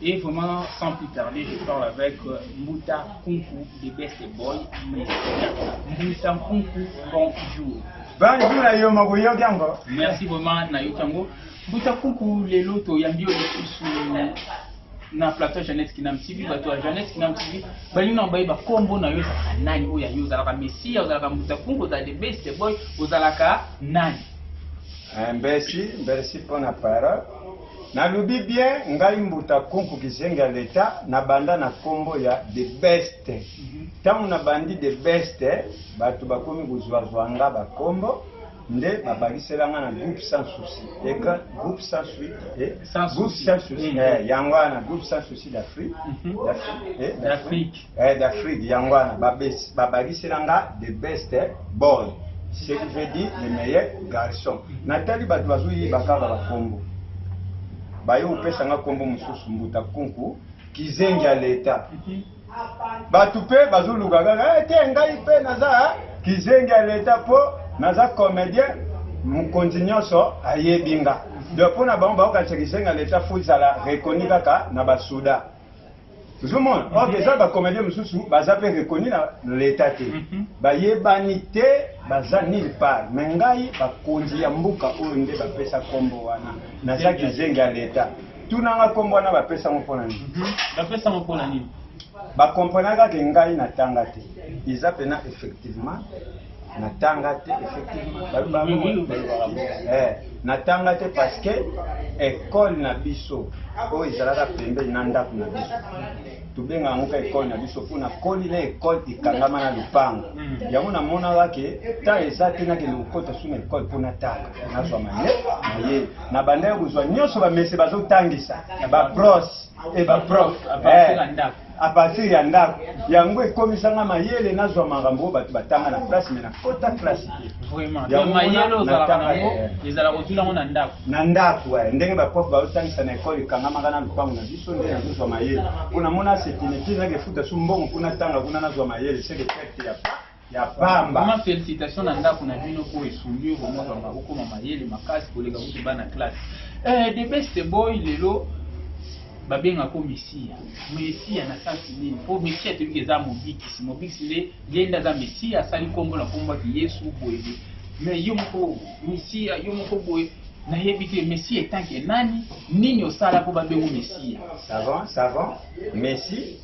Et vraiment, sans plus tarder, je parle avec euh, Mbuta Kunku de Best Boy, mais Mbuta Kunku, bonjour. Bonjour à Yoma Goyogango. Merci vraiment, Nayotango. Mbuta Kunku, les lotos, Yambio, les sous na plateau Jeannette Kinam TV, bato ya Jeannette Kinam TV, balingi na baye bakombo na yo ozalaka nani oyo ya yo ozalaka Messia, ozalaka Mbuta Kunku, ozalaka the best boy, ozalaka nani? Merci, merci pour la parole. Na lobi bien ngai mbuta kunku kizengi ya l'etat na banda na kombo ya the best tangu na bandi the best batu bakomi kozua zua nga ba kombo nde ba bakisela nga na groupe sans souci et que groupe sans souci et sans souci eh, yango wana groupe sans souci d'Afrique mhm. d'Afrique eh, d'Afrique eh, d'Afrique yango wana babakisela nga the best eh, boy ce qui veut dire le meilleur garçon natali bato bazoyeba kaka bakombo baye kopesa nga kombo mosusu mbuta kunku kizengi ya leta bato mpe bazoluka kaka eh, te ngai mpe naza eh, kizengi ya leta mpo naza comédien mokonzi nyonso ayebi nga donc mpo na bango bakokanisa kizengi ya leta fo ezala reconnu kaka na basuda tozomona or mhm. eza bacomédien mosusu baza mpe reconnu na leta te mhm. bayebani te baza nil part me ngai bakonzi ya mboka oyo nde bapesa nkombo wana naza kizengi ya leta tunanga nkombo wana bapesa ngo mpo na nini mhm. bapesa ngo mpo na nini bakomprenaka ke ngai natanga te eza mpena effectivement natanga te eh, natanga te parce que ekole na biso oyo ezalaka pembeni na ndako na biso tobenga yango ka ekole na biso mpo nakoli na ekole ekangama na lopango hmm. yango namonaka ke ta eza te nakende kokota su na ekole mpo natanga nazwa maye maye na bandaki kozwa nyonso bamese bazotangisa babrose e baprof eh, a partir ya ndako yango ekomisa nga mayele nazwa makambo oyo bato batanga na place me nakota place na ndako eh, ndenge baprof baotangisa na ekole ekangamaka na lopango na biso nde nazozwa mayele mpo namona setinetini nakefuta su mbongo kuna tanga kuna nazwa mayele seke perte ya ya pamba. Maman felicitation na ndako na bino po esungi yo vraiment vraiment okoma mayele makasi koleka kutu bana classe. Eh the best boy lelo babenga ko mesiya mesiya na sansi nini po mesiya toyebi ke eza mobikisi mobikisi nde ye nde aza mesiya asali nkombo na nkombo ati yesu boye boye me yo moko mesiya yo moko boye nayebi te mesiya etanke nani nini osala mpo babengo mesiya savant savant mesi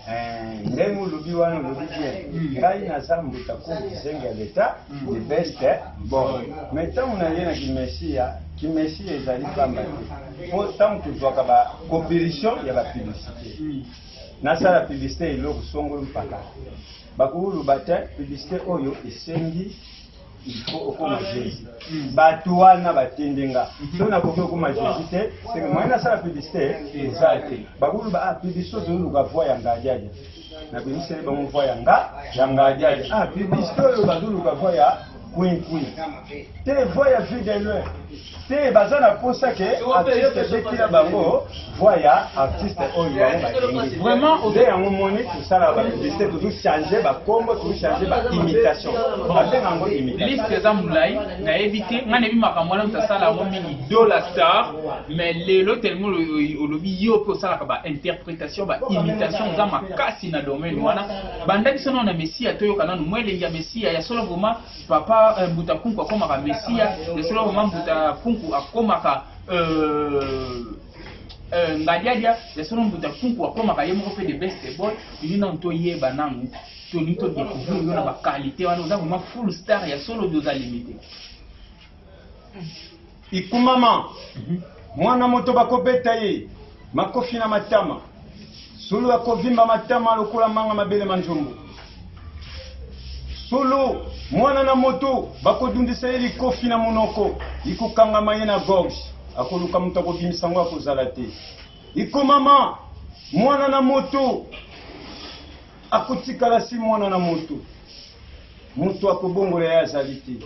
Eh, ndenge olobi wana olobi bien ngai naza mbuta ko bisengi ya leta the best eh? bon me ntango naye na kimesiya kimesiya ezali pamba te mpo ntango tozwaka ba coopération ya ba publicité nasala publicité eloko songolo mpaka bakokoloba te publicité oyo esengi il faut okoma jésus bato wana batindi nga so nakoki okoma jésus te seke moyen nasala publicité eza te bakoluba ah publicité ozoluka voi ya ngadiadia nabimiseli bango voi ya nga ya ngadiadia ah publicité oyo bazoluka voi ya kwinkwin te voi ya vie de loin te baza na posa ke artiste abetila bango voix ya artiste oyo bango balingi vraiment nde yango moni tosala bapiblisite tozochange bakombo tozochange baimitation babenga yango imitation liste eza molai nayebi te ngai nayebi makambo wana moto asala yango mingi dola star mais lelo telemo olobi yo mpe osalaka bainterprétation baimitation oza makasi na domaine wana banda biso nao na messia toyoka nano mwa elengi ya messia ya solo vraimen Papa euh, Mbuta Punku akomaka Mesia, le solo maman Mbuta Punku akomaka euh, euh, Ngadiadia, le solo Mbuta Punku akomaka ye moko pe de best boy, yini na nto yeba nangu, toni to découvrir yo na ba qualité wana oza vraiment full star ya solo oza limité. Ikumama mwana moto bakobeta ye makofi na matama, sulu akovimba matama lokola manga mabele ma njombo. Sulu mwana na moto bakodundisa ye likofi na monoko, ikokangama ye na gorge, akoluka moto akobimisa yango akozala te. Ikumama mwana na moto akotikala si mwana na moto, moto akobongola ye azali te.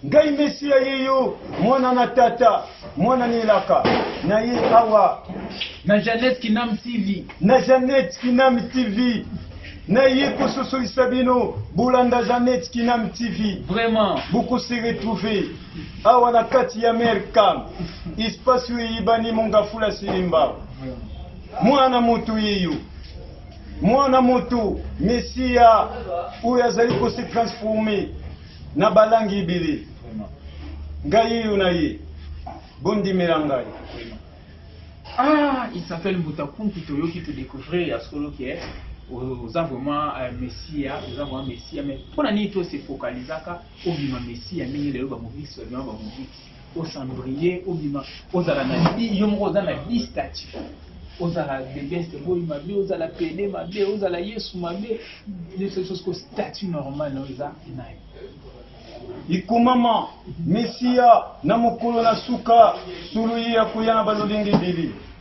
Ngai Mesia ye yo, mwana na tata, mwana na elaka na ye awa. Na Jeannette Kinam TV. Na Jeannette Kinam TV. Na ye kososolisa bino bolanda Jeannette Kinam TV. Vraiment. Boko se retrouver awa na kati ya Mercam. Espace oyo eyebani Mongafula Silimba. Mwana moto ye yo. Mwana moto Mesia oyo azali ko se transformer Na balangi ibele. Ngai yo na ye. Bondimela ngai. Ah, il s'appelle Mutakuntu Toyoki to découvrir ya solo que oza vraiment euh, messia oza vraiment messia mais mpo na nini to se focalisaka obima messia ndenge lelo bamobikisi babima bamobikisi osambrie obima ozala na yo moko oza na bi statut ozala bebeste boyi mabe ozala pede mabe ozala yesu mabe ko statut normal oza nayo ikomama mesiya na mokolo na suka suluyi ya koya na balolenge bili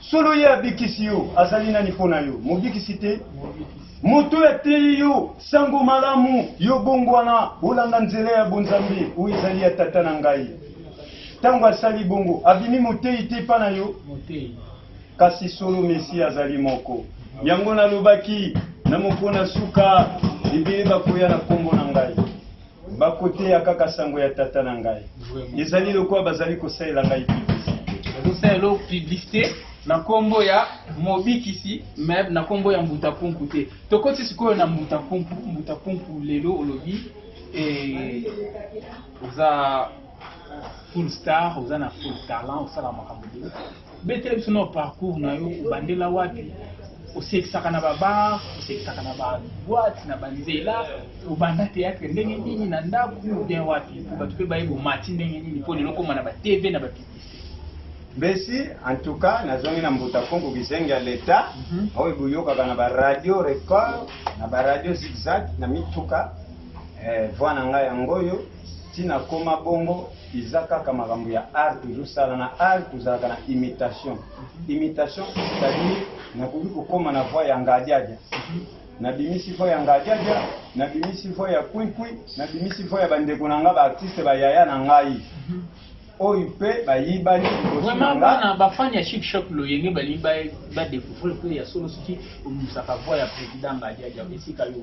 Solo ye abikisi yo, azali nani mpo na yo? Mobikisi te? Moto oyo ateyi yo sango malamu, yo bongwana, olanda nzela ya bonzambe, oyo ezali ya tata na ngai. Ntango asali bongo, abimi moteyi te mpa na yo? Kasi solo Mesia azali moko. Yango nalobaki, na mokona suka, ebele bakoya na nkombo na ngai. Bakoteya kaka sango ya Tata na ngai. Ezali lokola bazali kosalela ngai publicite. Bazosala elo publicite na nkombo ya Mobikisi me na nkombo ya Mbuta Pumpu te. Tokoti sikoyo na Mbuta Pumpu. Mbuta Pumpu lelo olobi eh, oza full star, oza na full talent, osala makambo betela biso na parcours na yo obandela wapi osekisaka na babar osekisaka na baboite na banzela obanda théâtre ndenge nini na ndako bien wapi mpo bato mpe baye bomati ndenge nini mpo lelo okoma na batv na bapiblisité mbesi en tout cas nazongi na mbuta kongo kizengi ya leta mhm. oyo boyokaka na baradio record na baradio zigzag na mituka eh, voi na ngai yango oyo ntina koma bongo eza kaka makambo ya art tozosala na art tozalaka na imitation imitation c'est-à-dire nakoki kokoma na voix ya ngadiadia nabimisi voix ya ngadiadia nabimisi voix ya kwinkwi nabimisi voix ya bandeko na ngai baartiste bayaya na ngai oyo mpe bayibani vraiment bana bafani ya chic shop loyenge balingi badécouvrir mpe ya solo soki obimisaka voix ya président ngadiadia esika yo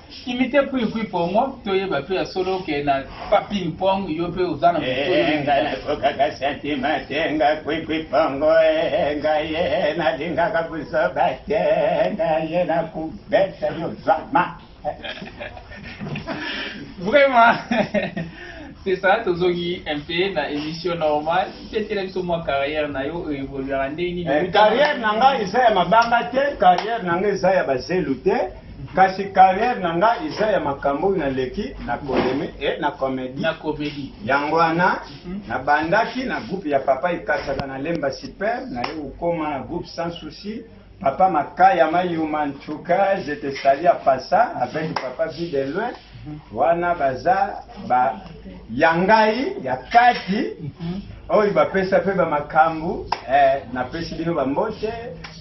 Imite puis puis pongo toyeba pe ya solo ke na pa ping pong yo pe oza na moto eh, nga nakokaka sentima te nga puis puis pongo eh, nga ye nalingaka buzoba te nga ye nakubeta yo zama vraiment c'est ça tozongi un peu na émission normale tiatela biso mwa carrière na yo oyo evoluaka ndenge nini eh, carrière na ngai eza ya mabanga te carrière na ngai eza ya bazelu te Kasi carrière na nga eza ya makambo oyo naleki na koleme e eh, na komedi na komedi yango wana mhm. nabandaki na groupe ya papa ikasaka na lemba super naye kokoma na groupe sans souci papa makaya mayuma ntuka je te sali ya pasa avec papa vie de loin mhm. wana baza ba ya ngai ya kati mhm. oyo bapesa mpe bamakambo eh, napesi bino bambote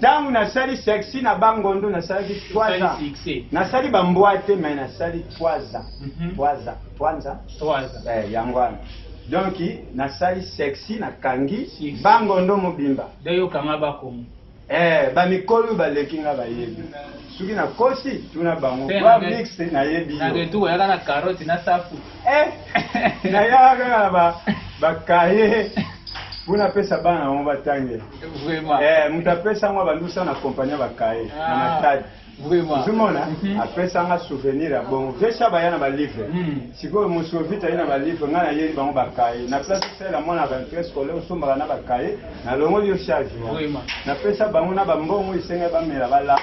Tangu na sali sexy na ba ngondo na salaki trois ans. Na sali ba mbwa te mais na sali trois ans. Mhm. Trois ans. Trois ans. Trois ans. Eh, yango wana. Donc na sali sexy na kangi ba ngondo mobimba. Dayo kanga ba komo. Eh, ba mikolo ba leki nga ba yebi. Suki na kosi tuna bango. Ba mix na yebi. Na de tout yaka na carotte na safu. Eh. Na yaka na ba ba kaye. Puna pesa bana on va tanger. Vraiment. Eh, mutu apesa ngo balusa na compagnie ya bakaye na Ah. matadi Vraiment. ozomona Mhm. apesanga souvenir ya bongo vesha baya na balivre Mm. sikoyo mosovita ye na balivre ngai nayeli bango bakaye na place osala mwana rentrée scolaire osombaka na bakaye nalongoli yo charge wana. Vraiment. napesa bango na bambongo esengai bamela balapa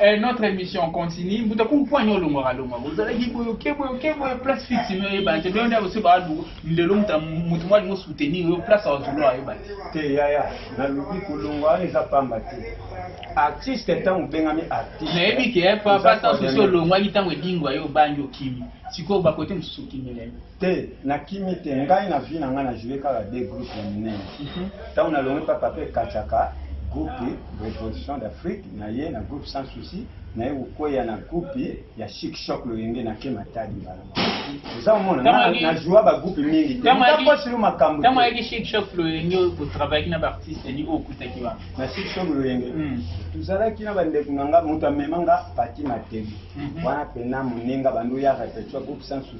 Eh, notre émission continue. Mbuta ku poigno longo ka longo. Vous allez kibo yo kebo yo kebo yo place fixe mais eh, ba te bien d'ailleurs c'est ba du ndelo muta mutu mwa lingo soutenir yo place à zulo ayo ba. Te ya ya na lubi ko longo a eza pamba te. Artiste ntango obengami artiste. Na yebi ke eh, papa tanso so longo a kitango edingo ayo banjo kimi. Siko ba kote mususu kimi lelo. Te, na kimi te, ngai na vie na ngai na joue kaka deux groupes ya minene. Mhm. Tango na longi pa Papa Kachaka, groupe Revolution d'Afrique na ye na groupe Sans Souci, na ye kokweya na groupe ya Chic Choc Loyenge na Kema Tadi mbala. Oza omona na, na joua ba groupe mingi te. Ntango asilo makambo. Ntango ayaki Chic Choc Loyenge ko travailler na ba artistes ni o kutaki ba. Na Chic Choc Loyenge. Hmm. Tuzalaki na ba ndeko na nga moto amema nga Pati Matebi. Mhm. Wana pena moninga bandu ya repetition groupe Sans Souci.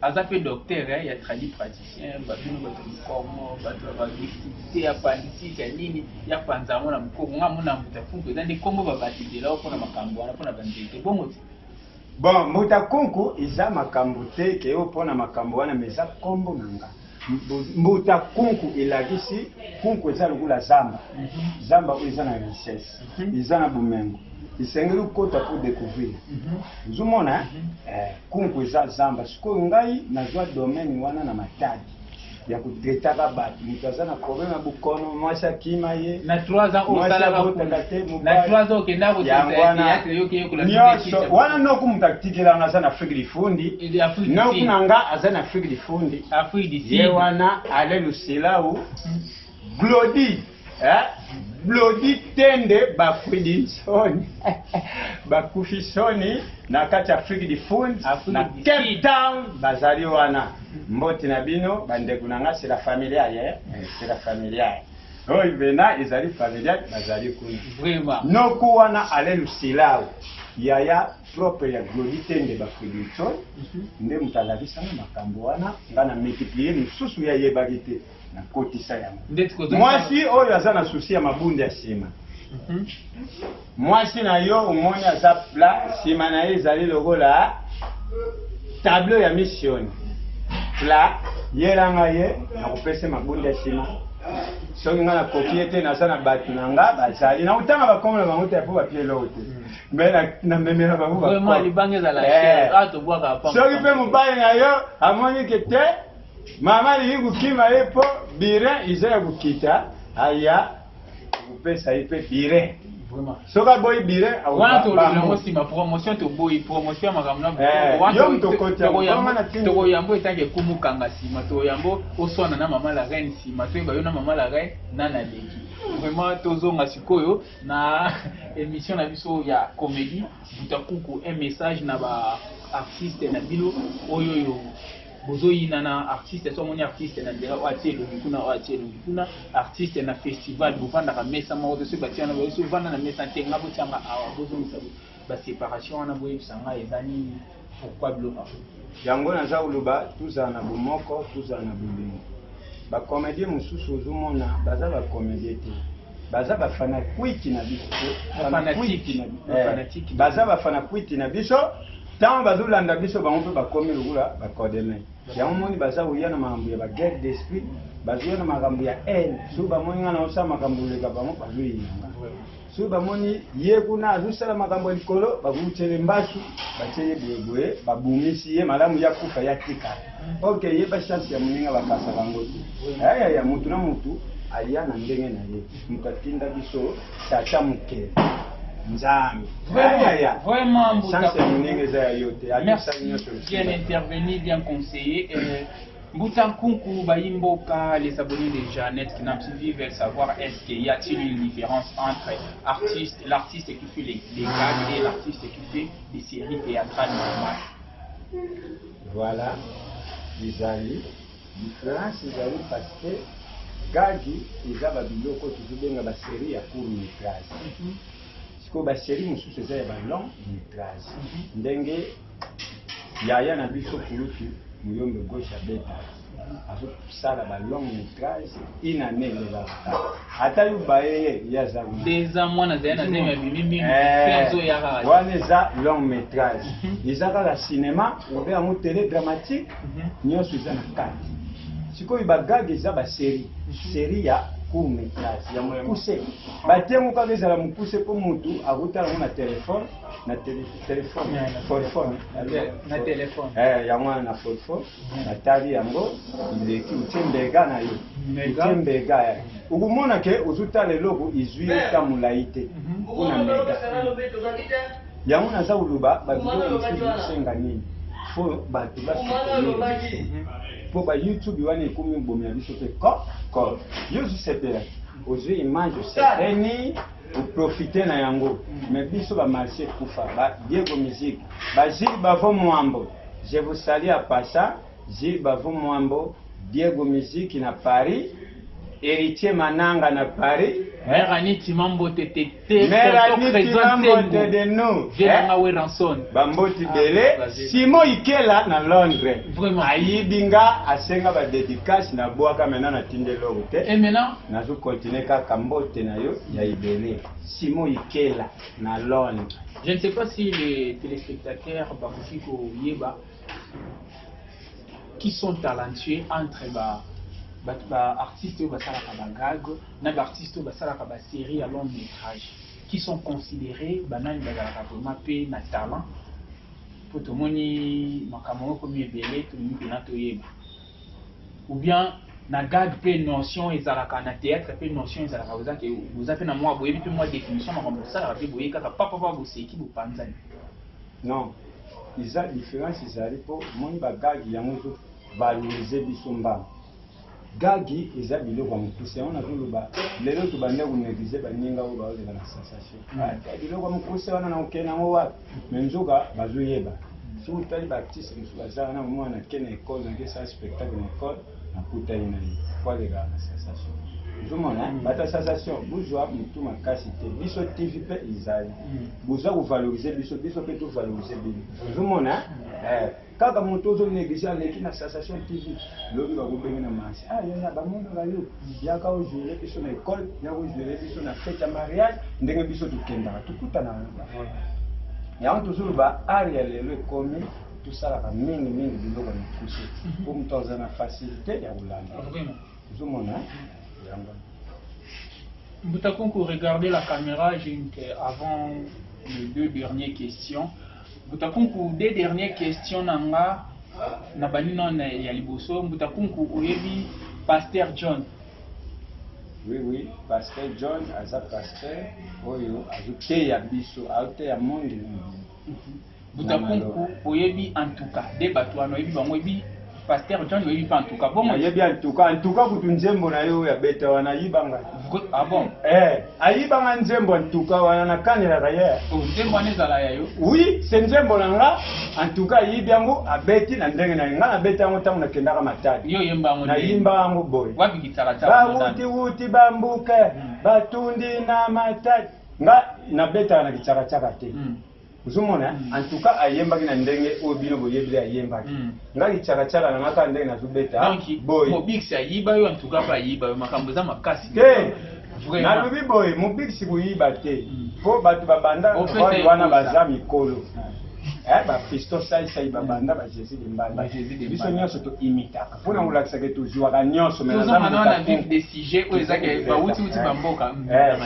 aza pe docteur eh, ya tradi praticien babino bato mikongo bato ya badificulte ya politique ya nini ya panza yango na mokongo nga mona mbuta kunku eza nde nkombo babatezelao mpona makambo wana mpona banzete bongo te bon mbuta kunku eza makambo te keyo mpona makambo wana ma eza nkombo na nga Mbuta kunku elakisi kunku eza lokola zamba zamba oyo eza na richesse mhm. eza na bomengo esengeli okota mpo découvrir mhm. ozomona mhm. eh, kunku eza zamba sikoyo ngai nazwa domaine wana na matadi ya kotetaka bato moto aza na problème ya bokono mwasi akima ye na 3 ans osalakabotaka te mobayango wana nyonso wana noko moto atikelanga aza na afrique lifundi na kuna nga aza na afrique du fond ye wana ale lusilau hmm. glodi eh? glodi tende bafridi nsoni bakufi soni na kati ya afrique du fond na cape town bazali wana hmm. mboti na bino bandeko na nga c'est la familiale eh? eh c'est la familiale oyo bena ezali familiale bazali kuna noku wana ale lusilau yaya propre ya Glody Tembe ba Fredrickson nde moto alakisa nga makambo wana nga na multiplier mosusu ye ayebaki te na kotisa yango Ndeti kozongisa- mwasi oyo aza na susi ya mabundi ya nsima mwasi na yo omoni aza plat nsima na ye ezali lokola tableau ya mission plat yelanga ye nakopese mabundi ya nsima soki nga nakoki ye te naza na bato na nga bazali nakotanga bakomo na bango te mpo bapieloo te mais na memela bango ba vraiment libanga ezala eh. cher ah tobwaka pa soki pe mobali na yo amoni ke te mama alingi kokima ye po birin iza ya kokita aya kopesa ye pe birin soki aboyi birin awanatolongo nsima promotion toboyi promotion ya makambo natokoyambo eh, etanke ekumukanga nsima toyambo oswana na mama la reine nsima toyeba yo na mama la reine nana leki vraiment tozonga sikoyo na emission na biso ya comedie butakuku un message na ba artiste na bino oyo yo bozoyina na artiste so amoni artiste na nzela oyo atie elongi kuna oyo atie elongi kuna artiste na festival bovandaka mesa moko te soki batia na boye so ovanda na mesa te nga botianga awa bozongisa Ba separation wana boyebisa nga eza nini? Pourquoi biloko yango? Yango naza koloba tozala na bomoko tozala na bolingo ba comedien mosusu ozomona baza ba comedien te baza ba fanakuiti na biso eh, baza ba fanakuiti na biso ntango bazolanda biso bango mpe bakomi lokola bacodeme yango moni baza koya na makambo ya baguerre d'esprit bazoya na makambo ya haine soki bamoni ngai naosala makambo oleka bango bazoyinanga soki bamoni ye kuna azosala makambo ya likolo bakotiele mbaki batie ye boyeboye babomisi ye malamu ya kufa ya tika ok ye bachance ya moninga bakasa bango te ayaya motu na motu aya na ndenge na ye moto atinda biso tata mokeli nzambe ayaya chance ya moninga eza ya yo te aosali nyonso bien intervenu bien conseiller euh, Mbuta Nkunku bayi mboka les abonnés de Jeannette Kinam TV veulent savoir est-ce qu'il y a-t-il une différence entre artiste l'artiste qui fait les, les gags et l'artiste qui fait des séries théâtrales normales Voilà, ezali différence ezali parce que gagi eza ba biloko tozobenga ba série ya court métrage sikoyo ba série mosusu eza ya ba long métrage ndenge Yaya na biso kulutu muyombe gauche abeta azosala ba long metrage une année eza retard ata yo bayeye ye aza deza mwana zali na zemi abimi mingi azoyaka eh, wana eza long metrage mhm. eza kaka cinéma obe yango tele dramatique mhm. nyonso eza na kati sikoyo bagage eza baserie mhm. serie ya court metrage ya mokuse batengo kaka ezala mokuse mpo motu akotala yango na telefone na telefone telefone telefone na telefone eh yango wana na telefone natali yango ileki utie mbega na yo utie mbega ya okomona ke ozotala eloko izwi ye ta molai te mpo na mbega yango naza koloba babiloko mosusu esenga nini fo bato basepelaki mpo ba youtube wana ekomi bomi ya biso te ko ko yo ozosepela ozwi image osepeli Bo profiter na yango mais biso ba marche kufa ba Diego music ba Gilles Bavon Muambo je vous salue à passa Gilles Bavon Muambo Diego music na Paris Heritier Mananga na Paris Mère Annie Timambo te te te Tonton Trésor Nsengu Vieux na nga Werrason Ba mboti ah, bele Simon Ikela na Londres Vraiment Ayibi nga asenga ba dédicace na bwaka maintenant na tinde loko te Et maintenant Nazo continuer kaka mbote na yo ya ebele. Simon Ikela na Londres. Je ne sais pas si les téléspectateurs bakoki koyeba qui sont talentueux entre ba bato ba artistes oyo basalaka ba gag na ba artistes oyo basalaka ba série ya long métrage qui sont considérés banani bazalaka vraiment mpe na talent mpo tomoni makambo yango ekomi ebele tolingi mpena toyeba ou bien na gag pe notion ezalaka na théâtre pe notion ezalaka boza ke boza pe na mwa boyebi pe mwa définition makambo bosalaka pe boye kaka papa papa boseki bopanzani non eza différence ezali po omoni ba gag yango ezo valoriser biso mbala gagi eza biloko ya mokuse yango nazoloba lelo tobanda koneglige baninga oyo baozela na sensation biloko ya mokuse wana na okende yango wapi mais nzoka bazoyeba soki otali baartiste mosusu bazalaka na mwana ke na ekole nake esala spectacle na ekole nakutani na ye po alekaka na sensation ozomona mm. bata sensation bozwa motu makasi te biso tv mpe ezali mm. boza kovalorize biso biso mpe tovalorize bino ozomona mm. eh. Kaka moto ozo negliger aleki na sensation TV. Lobi ba kobenge na mansi. Ah yaya ba mono ga yo. Yaka o jouer biso na école, yaka o jouer biso na fête ya mariage, ndenge biso tokendaka, tokutana na bango. Yango toujours ba art ya lelo ekomi tosalaka mingi mingi biloko na kusi. Po moto aza na facilité ya kolanda. Ozo mona yango. Mbutakunku, regardez la caméra, j'ai une avant les deux dernières questions. Mbuta Kunku deux dernier question na nga na bandi no na ya liboso Mbuta Kunku oyebi Pasteur John? Oui oui Pasteur John aza Pasteur oyo azo teya biso azo teya monde mobimba. Mbuta Kunku oyebi en tout cas de batu wana oyebi bango oyebi Pasteur John oyebi pa en tout cas bongo oyebi en tout cas en tout cas kutu nzembo na yo ya beta wana ayiba nga ah bon eh ayiba nga nzembo en tout cas wana na kanela ka ye oh nzembo wana ezala ya yo oui c'est nzembo na nga en tout cas ayibi yango abeti na ndenge na nga na beta yango tango na kendaka matadi yo yemba yango na yimba yango boy wapi kitala tala ba wuti wuti ba mbuke hmm. ba tundi na matadi nga na beta na kichaka chaka te hmm. ozomona en tout cas ayembaki na ndenge oyo bino boyebi nde ayembaki hmm. nga licakacaka na nga kaka ndenge nazobeta boye mobikisi ayiba yo en tout cas mpe ayiba yo makambo eza makasi te nalobi boye mobikisi koyiba te mpo hmm. bato babanda role wana baza mikolo eh, bapisto saisai babanda bajesus de mbanda biso nyonso toimitaka mpo na kolakisa ke tozuaka nyonso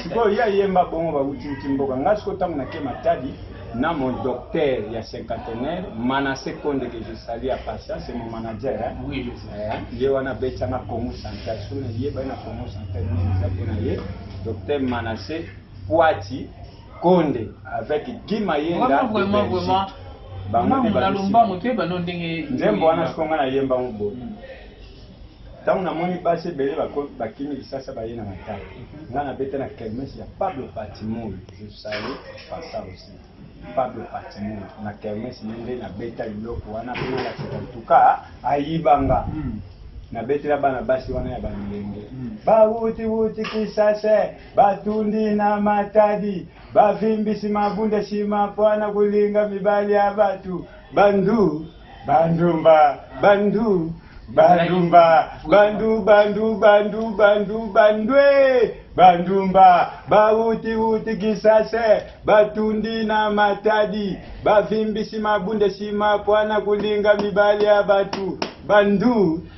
sikoyo ye ayemba bongo bautiuti mboka ngai sikoyo ntango nake matadi na mon docteur ya cinquantenaire manasse konde ke je sali ya pasa c'est mon manager ye wana abetanga congo central so nayebani na congo central nini eza mpo na ye docteur manasse poati Konde avec Guy Mayenda de Belgique. Bango nde babisi. Nzembo wana siko nga nayemba ngo boye. Hmm. Ntango namoni basi ebele bakimi lisasa baye na matala. Mhm. Nga nabeta na kermesse ya Pablo Patimoy. Je salue par ça aussi. Pablo Patimoy na kermesse nde nabeta biloko wana mpe nalakisa en tout cas ayiba nga. Hmm. nabetela bana basi wana ya balenge hmm. bawuti wuti kisase Batundi na Matadi bavimbisi mabunda nsima mpo na kolinga mibali ya bato. Bandu bandumba bandu bandumba bandu bandu bandu bandu bandwe bandumba bawuti wuti kisase batundi na matadi bavimbisi mabunda nsima mpo na kolinga mibali ya bato bandu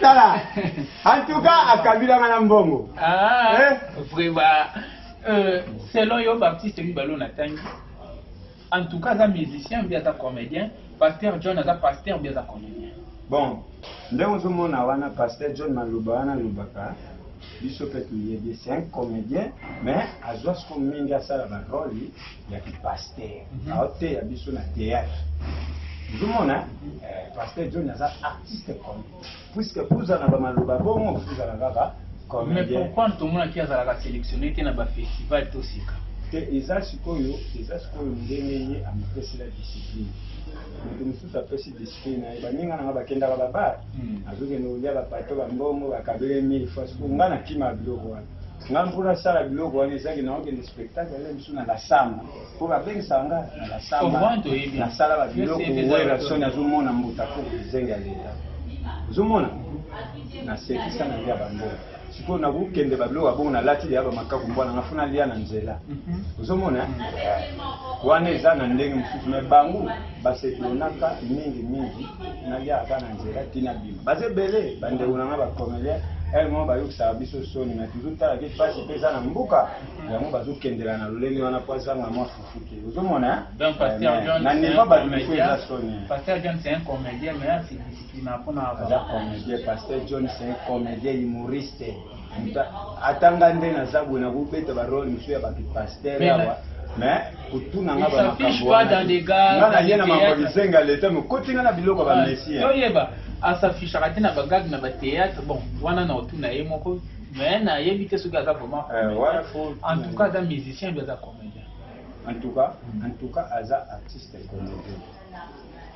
tala antuka akabilanga na mbongo ah, eh? vraiment euh, selon yo baptiste mibale oyo natangi en tout cas aza musicien mbi aza comédien pasteur john aza pasteur mbi aza comédien bon nde ozomona wana pasteur john maloba wana alobaka biso mpe toyebi c'est un comédien mais azwa siko mingi asala barole ya ki pasteur mhm. aoteya biso na théâtre ozomona eh, pasteur john aza artiste comme puisque puza na bamaloba bongo puza na kaka mais pourquoi tomonaki azalaka sélectionné te na bafestival to sika te eza sikoyo eza sikoyo ndenge ye amipesela discipline moto mosusu apesi discipline na ye baninga nanga bakendaka babare hmm. azokende kolia bapato bambongo bakabele mille fois sikoyo nga nakima biloko wana Nga mpo nasala biloko wana ezaki naokende spectacle ale mosusu na lasamba mpo babengisaka nga na lasamba nasala babiloko werasoni azomona mbuta mpo zenge ya leta ozomona nasekisa na lia bambongo sikoyo nakokende babiloko ya bongo nalati lia bamakaku mbwana nga funa lia na nzela mhm. ozomona wana eza na ndenge mosusu me bango basepelonaka mingi mingi nalia aka na nzela tina bima baza ebele bandeko na nga bacomelien ele moko bayokisaka biso soni na toujours tala ke pasi mpe eza na mbuka yango bazokendela na lolenge wana mpo azanga mwa fufu te ozomona na nivo bato mifo eza soni aza comédien mpona pasteur john c'est un comédien humoriste ata nga nde naza boye nakobeta barole mosusu ya bato paster awa mais kotuna nga bamakambo wana nga naye na mambo lisenga leta mokoti nga na biloko ya bamessie asafishaka te na bagage na bateatre bon wana na otuna ye moko mais nayebi te soki aza vraiment eh, en tout cas aza musicien bi aza comédien en tout cas en tout cas aza artiste comédien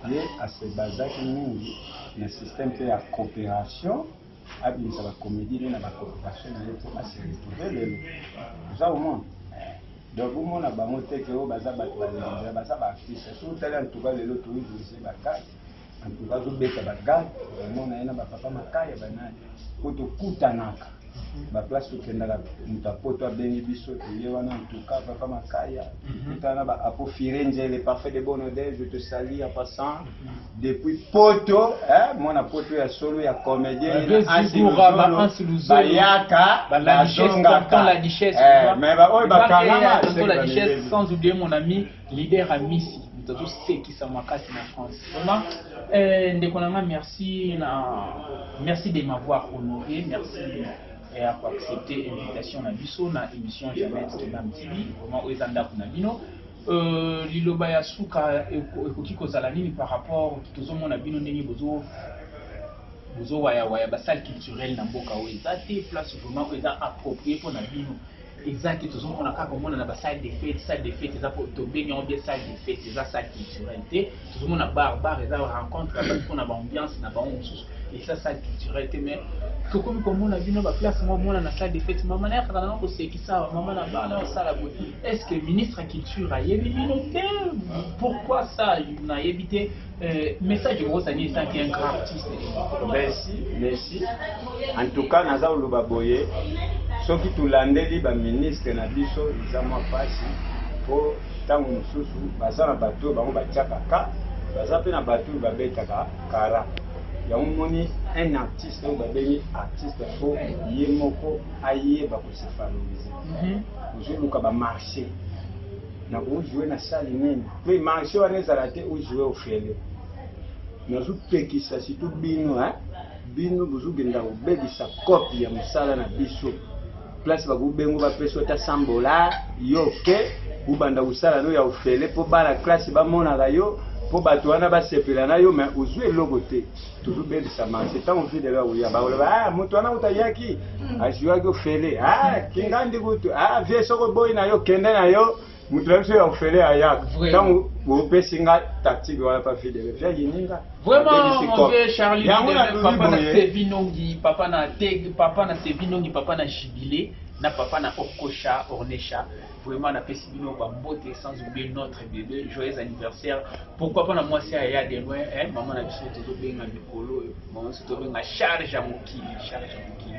ye asebazaki mingi na système mpe ya coopération abimisa ba comedie ne na ba cooperation na ye mpo a se retrouver lelo oza omona donc bomona bango te ke oyo baza bato balinga baza ba artiste soki otali antuka lelo toivise bakasi antuka azobeta bagare omona ye na bapapa makaya banani mpo tokutanaka baplace tokendaka moto apoto abengi biso toye wana antuka papa makaya tokutana na baapo firenze le parfait de bonode je te sali en passant depuis poto eh, mwana poto ya solo ya comédien bayaka bazongaka eh, mais baoyo bakangama sans oublier mon ami leader ya misi moto azosekisa makasi na france vraiment eh, ndeko na nga merci na merci de m'avoir honoré merci et à accepter invitation na biso na émission jamais de Nam TV vraiment oyo eza ndako na bino Euh, liloba ya suka ekoki kozala nini par rapport tozomona bino ndenge bozo bozo waya waya ba salle culturelle na mboka oyo eza te place vraiment oyo eza approprié mpo na bino eza te tozomona kaka omona na ba salle de fete salle de fete eza tobengi yango bien salle de fete eza salle culturelle te tozomona bar bar eza rencontre ya bato mpo na baambiance na bango mosusu eza salle culturel te mais tokomi komona bino baplace moko mona na salle de fete mama naye kaka nanga kosekisa awa mama na bana osala boye est ce que ministre ya culture ayebi bino te pourquoi ça nayebi te euh, message okosani ezaki un grand artiste merci merci en tout cas naza koloba boye soki tolandeli baministre na biso eza mwa mpasi mpo Tango mususu baza na batu bango batiaka ka baza pe na batu babetaka kara yango moni un artiste oyo babengi artiste fo ye moko ayeba kose valoriser mhm. ozoluka ba marché na kojoue na sali nini pe marché wana ezala te ojoue ofele nazopekisa surtout bino bino bozokenda kobebisa kope ya mosala na biso place bakubengo bapesi ota 100 bola yo oke ubanda kosala no ya ofele mpo bana klase bamonaka yo mpo bato wana basepela na yo me ozwi eloko te tozobebisa marse ntango fidele akoya bakoloba a ah, moto wana kuta yaki hmm. aziwaki ofele a ah, kingandi kutu a ah, vie soko boyi na yo kende na yo moto na biso ya ofele ayaka ntango bopesi nga tactique wana pa fille de refi ayini nga yango nalobi papa na tege papa na sevinongi papa na jibile na papa na okosha ornesha vraiment napesi bino bambote sans oublier notre bebe joyeux anniversaire pourquoi pas na mwasi ya ya de loin eh, mama na biso tozobenga mikolo oyo mama biso tobenga charge ya mokili charge ya mokili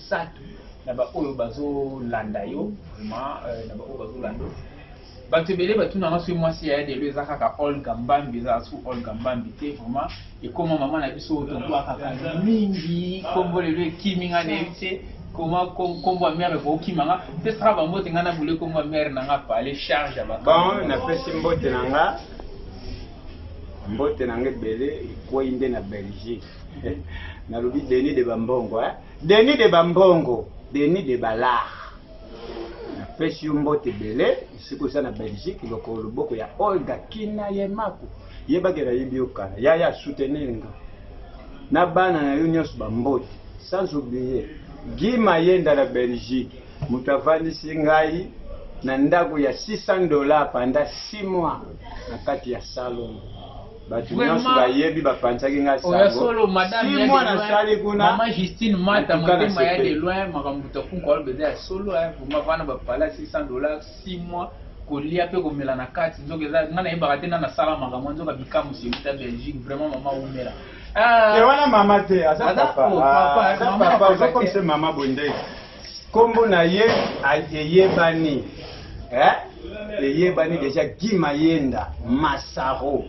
Sato na ba oyo bazo landa yo vraiment euh, na ba oyo bazo landa bato ebele batuna nga soki mwasi ya yadelo eza kaka olga mbambi eza su olga mbambi te vraiment ekoma mama na biso oyo tobwakaka mingi kombo lelo ekimi nga na yebi te koma kombo ya mere ekokima nga pesaka bambote nga na bule kombo ya mere na nga pale charge ya bon napesi mbote na nga mbote na nga ebele ekwei nde na belgique nalobi denis de bambongo eh? Denis de ba mbongo, Denis de ba lar. Napesi yo mbote ebele, esika oza na Belgique, lokolo loboko ya Olga Kina Yemaku. Yebake nayebi yo kala. Yaya soutenir nga. Na bana na yo nyonso ba mbote. Sans oublier Guy Mayenda na Belgique, moto avandisi ngai na ndako ya 600 dollars pendant 6 mois na kati ya salon. bato nyonso bayebi bapanzaki ngai sango si mwana asali kuna mama justine mata motema ya de loin makambo moto afunka oloba eza ya solo vraimen vana bapala 600 dollars 6 mois kolia mpe komela na kati nzoka eza ngai nayebaka te nana asala makambo nzoka bikamu simuta belgique vraiment mama umela ah. te wana mama te aza papa ah, aza papa ozokomisa mama bondei Kombo na ye eyebani eh? eyebani deja Guy Mayenda Masaro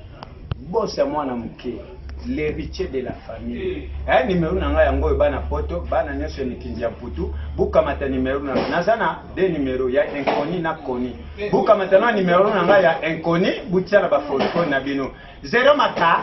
boss ya mwana moke l'héritier de la famille eh, numéro na ngai yango oyo bana poto bana nyonso ya mikindi ya mputu bukamata numéro na ngai naza na de numéro ya inconi na koni bukamata na numéro na ngai ya inconi butia na bafoto na bino zero maka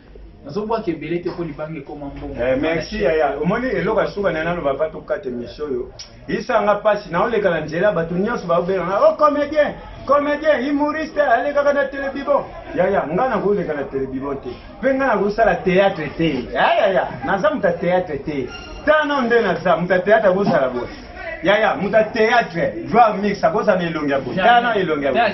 nazobwaka ebele te mpo libanga ekoma mbongo eh, merci yaya omoni eloko ya suka naye naloba pa tokata emission oyo isanga mpasi naoleka na nzela bato nyonso baobengana o oh, comédien comédien humoriste alekaka na telebibo yaya ngai nakoleka na telebibo te mpe ngai nakosala théâtre te yayaya naza moto ya théâtre te tano nde naza moto ya théâtre akosala boye yaya moto ya théâtre joa mix akozala na elongi ya boye tana elongi ya boye